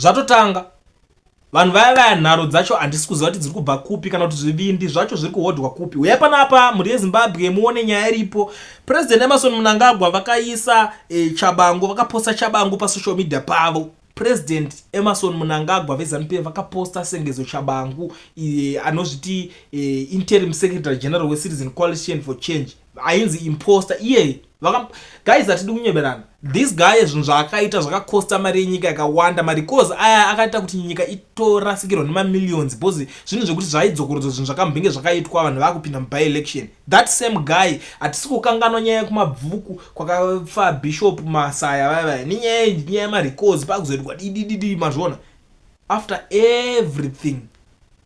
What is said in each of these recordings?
Zvatotanga. Vanhu vaya vaya nharo dzacho handisi kuziva kuti dziri kubva kupi kana kuti zvivindi zvacho zviri kuhodhwa kupi. Huyai panapa mhuri yeZimbabwe muone nyaya iripo. President Emerson Mnangagwa vakaisa eh, Chabangu vakaposta Chabangu pasocial media pavo. President Emerson Mnangagwa veZanu PF vakaposta Sengezo Chabangu eh, anozviti eh, interim secretary general weCitizen Coalition for Change ainzi imposter iye vaka guys atidi kunyeberana this guy zvinhu zvaakaita zvakakosta mari yenyika yakawanda mari cause aya akaita kuti nyika itorasikirwa nemamillions bcause zvinhu zvekuti zvaidzokorodzwa zvinhu zvakambenge zvakaitwa vanhu vakupinda muby election that same guy hatisi kukanganwa nyaya yekumabvuku kwakafa bishop masaya vaya vaya nenyaya nyaya yemari cause pakuzoitwa didididi mazviona after everything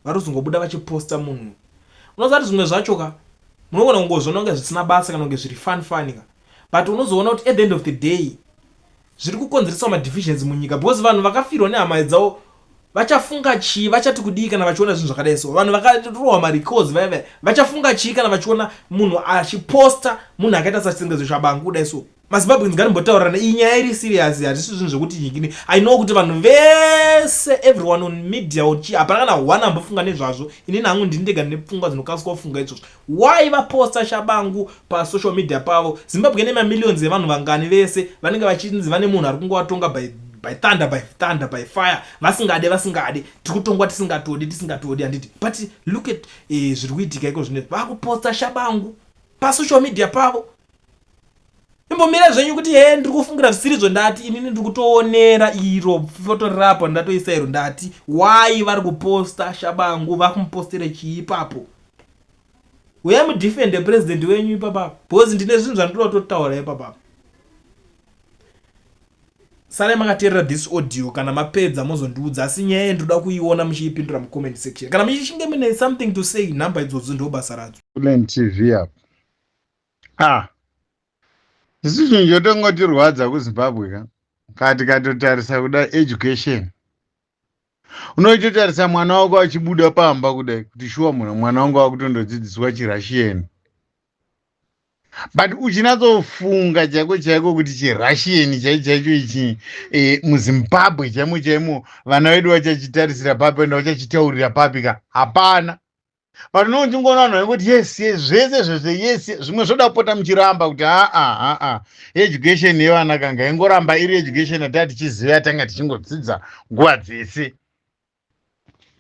varozongobuda vachiposta munhu Unoziva kuti zvimwe zvacho ka munogona kungozviona kunge zvisina basa kana kunge zviri fun fun ka but unozoona kuti at the end of the day zviri kukonzeresa madivisions munyika because vanhu vakafirwa nehama dzavo vachafunga chii vachati kudii kana vachiona zvinhu zvakadai so vanhu vakarohwa marecords vaya vaya vachafunga chii kana vachiona munhu achiposta munhu akaita sachitengezo chabangu kudai so mazimbabweans ngatimbotaurirana iyi nyaya iri serious hatisi zvinhu zvekuti nyikini i know kuti vanhu vese everyone on media ochi hapana kana one ambofunga nezvazvo inini hangu ndini ndega ndine pfungwa dzinokasika kufunga izvozvo why vaposta shabangu pasocial media pavo zimbabwe ine mamillions evanhu vangani vese vanenge vachinzi vane munhu ari kungovatonga by by thunder by thunder by fire vasingade vasingade tiri kutongwa tisingatodi tisingatodi handiti but look at eh, zviri kuitika iko zvine vakuposta shabangu pasocial media pavo imbomira zvenyu kuti hee ndiri kufungira zvisirizvo ndati inini ndiri kutoonera iro foto rirapo ndatoisa iro ndati why vari kuposta shabangu vakumupostera chii ipapo uya mudefende president wenyu ipapa because ndine zvinhu zvandoda kutotaura ipapa sare makateerera this audio kana mapedza mozondiudza asi nyaya iyi ndoda kuiona muchiipindura mucomment section kana muchishinge mune something to say number idzodzo ndo basa radzo tv apo ah isu chinhu chotongotirwadza kuzimbabwe ka kaa tikatotarisa kuda education unoitotarisa mwana wako achibuda pamba kudai kuti shuwa munhu mwana wangu akutondodzidziswa chirushian but uchinatsofunga chaiko chaiko kuti chirushian chai chaicho ichi e, muzimbabwe chaimo chaimo vana vedu vachachitarisira papi ende vachachitaurira papi ka hapana but no ndingoona vanhu vaikuti yes yes zvese zvese yes zvimwe zvoda kupota muchiramba kuti aa ah, aa ah, ah, education yevana kanga ingoramba iri education yataa tichiziva yatanga tichingodzidza nguva dzese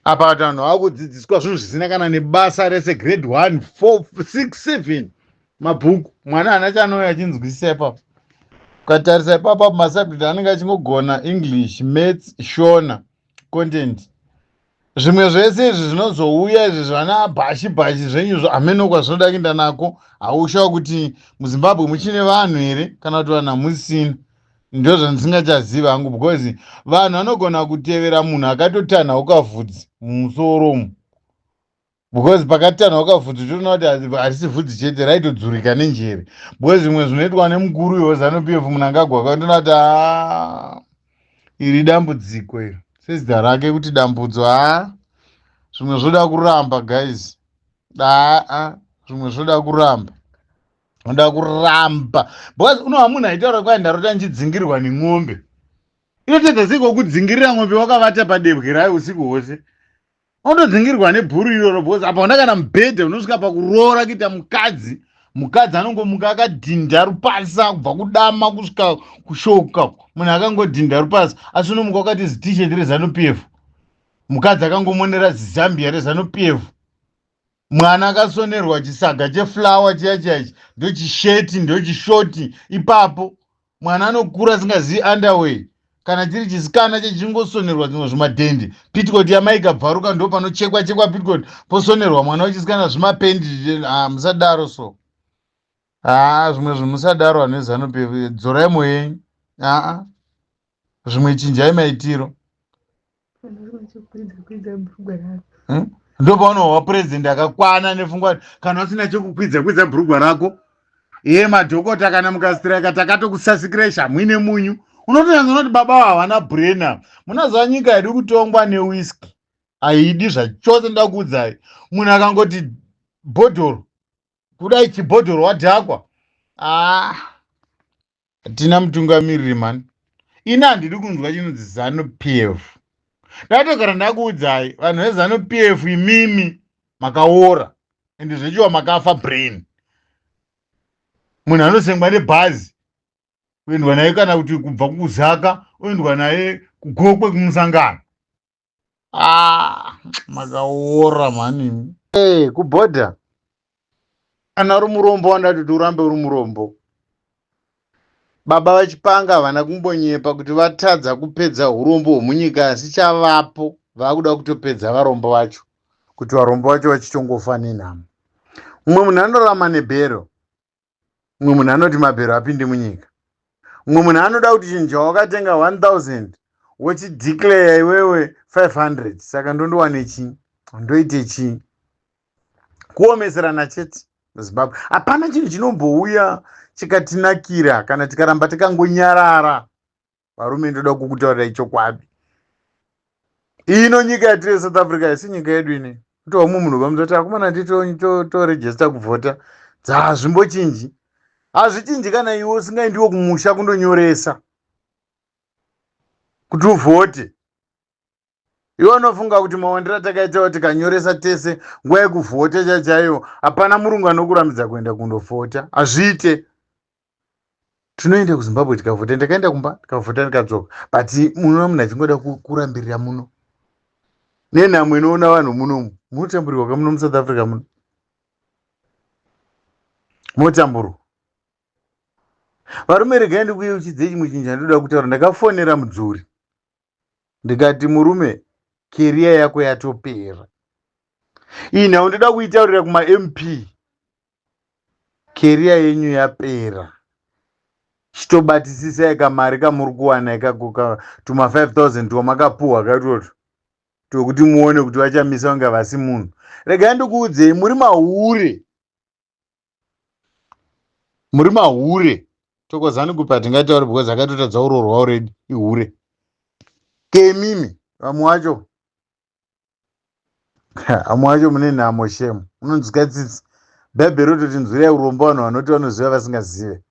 apa vati vanhu vava kudzidziswa zvinhu zvisina kana nebasa rese grade one four six seven mabhuku mwana hana chanouya achinzwisisa ipapo ukatarisa ipapo apo masubject anenge achingogona english mats shona content zvimwe zvese izvi zvinozouya izvi zvana bhashi bhashi zvenyu zvo hameno kwazvinoda kuenda nako haushawa kuti muzimbabwe muchine vanhu here kana kuti vanhu hamusina ndo zvandisingachazivi hangu because vanhu vanogona kutevera munhu akatotanha ukavhudzi mumusoro umu because pakatanhauka vhudzi toona kuti harisi vhudzi chete raitodzurika nenjere because zvimwe zvinoitwa nemukuru uyo wezanu p f munangagwa akandiona kuti haa iri dambudziko iri sezita rake kuti dambudzo haa zvimwe zvoda kuramba guys daa zvimwe zvoda kuramba unoda kuramba because unoha munhu aitaura kwai ndarota ndichidzingirwa nen'ombe inotadza sei kokudzingirira n'ombe wakavata padebwe rayo usiku hwose unodzingirwa nebhuru iroro because apa una kana mubhedha unosvika pakuroora kuita mukadzi mukadzi anongomuka akadhinda rupasa kubva kudama kusvika kushoka munhu akangodhinda rupasa asi unomuka wakati zitisheti rezanupf mukadzi akangomonera zizambia rezanupf mwana akasonerwa chisaga cheflower chiya chaichi ndochisheti ndochishoti ipapo mwana anokura asingazivi underway kana chiri chisikana chechingosonerwa zvimwe zvimadhendi pitcot yamai ikabvaruka ndo panochekwa chekwa pitcot posonerwa mwana wechisikana zvimapendi ah, musadaro so haa ah, zvimwe zvimusadaro anhu ezanope dzorai moyenyu aa ah, zvimwe chinjai maitiro hmm? ndopaunohwa purezidenti akakwana nefungwa kana usina chekukwidza kwidza bhurugwa rako ye madhokota kana mukastireka takatokusasikirai shamwine munyu unotonyanza unoti baba havana brena munazuva nyika yadi kutongwa newiski haidi zvachose nda kuudzai munhu akangoti bhodhoro kudai chibhodhoro wadhakwa ah. tina mutungamiriri mani ini handidi kunzwa chinonzi zanu p f ndatogara ndakuudzai vanhu vezanu p f imimi makaora ende zvechiwa makafa brain munhu anosengwa nebhazi kuendwa naye kana kuti kubva kukuzaka oendwa naye kugokwe kumusangano ah makaora mhani hey, eh, kubhodha kana uri murombo wandati kuti urambe uri murombo baba vachipanga havana kumbonyepa kuti vatadza kupedza urombo hwomunyika asi chavapo vakuda kutopedza varombo vacho kuti varombo vacho vachitongofa nenhamo mumwe munhu anorama nebhero mumwe munhu anoti mabhero apinde munyika mumwe munhu anoda kuti chinhu chawakatenga 1000 wochideclare iwewe 500 saka ndondowane chii ndoite chii kuomeserana chete muzimbabwe hapana chinhu chinombouya chikatinakira kana tikaramba takangonyarara varume ndoda kukutaurirai chokwadi ino nyika yatiri yesouth africa yesi nyika yedu ine kutova mumwe munhu vamuzoti akomana ti toregista kuvhota dzazvimbochinji hazvichinji kana iwe usingaindiwo kumusha kundonyoresa kuti uvhote iwe unofunga kuti mawandiro atakaitawo tikanyoresa tese nguva yekuvhota chachaiyo hapana murungu anokurambidza kuenda kundovhota hazviite tinoenda kuzimbabwe tikavhota ndakaenda kumba ndikavhota ndikadzoka but munoona munhu achingoda kurambirira muno nenhamo inoona vanhu munomu munotamburirwa kamuno musouth africa muno motamburwa varume regai ndikuyeuchidzei chimwe chinhu chandoda kutaura ndakafonera mudzuri ndikati murume keriya yako yatopera iyi nhau ndoda kuitaurira kumamp keriya yenyu yapera chitobatisisai kamari kamuri kuwana ikako tuma 5000 twamakapuhwa katwoto twekuti muone kuti vachamisa kunge vasi munhu regai ndikuudzei muri mahure muri mahure tokozani kupi hatingaitauri because akatotadza kuroorwa already ihure kemimi vamwe wacho vamwe wacho mune nhamo shemu unonzwika tsitsi bhaibheri rototi nzwirai urombo vanhu vanoti vanoziva vasingazive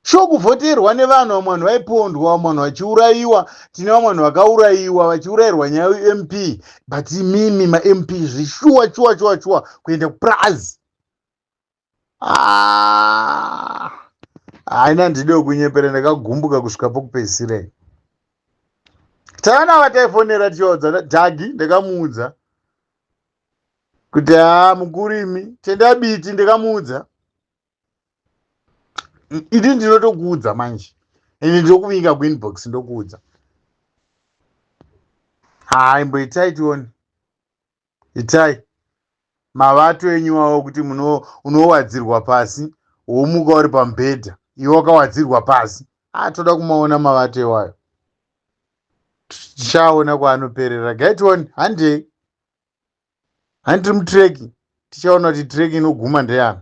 Sure kuvhoterwa nevanhu vamwe vanhu vaipondwa vamwe vanhu vachiurayiwa tine vamwe vanhu vakaurayiwa vachiurayirwa nyaya yemp but imimi mamp zvishuwa chuwa chuwa chuwa kuenda kupurazi ah, haina ndide wekunyepera ndakagumbuka kusvika pokupedzisira tana vataifonera tichivaudza dhagi ndakamuudza kuti haa mukurimi tendabiti ndakamuudza idi ndinotokuudza manje ende ndokuvinga kuinbox ndokuudza haa imbo itai tione itai mavato enyu wawo kuti unowadzirwa pasi womuka uri pamubhedha iwe wakawadzirwa pasi haa toda kumaona mavato iwayo tichaona kwaanoperera gaitione handei Hani tiri mutrack tichaona kuti track inoguma ndeyani.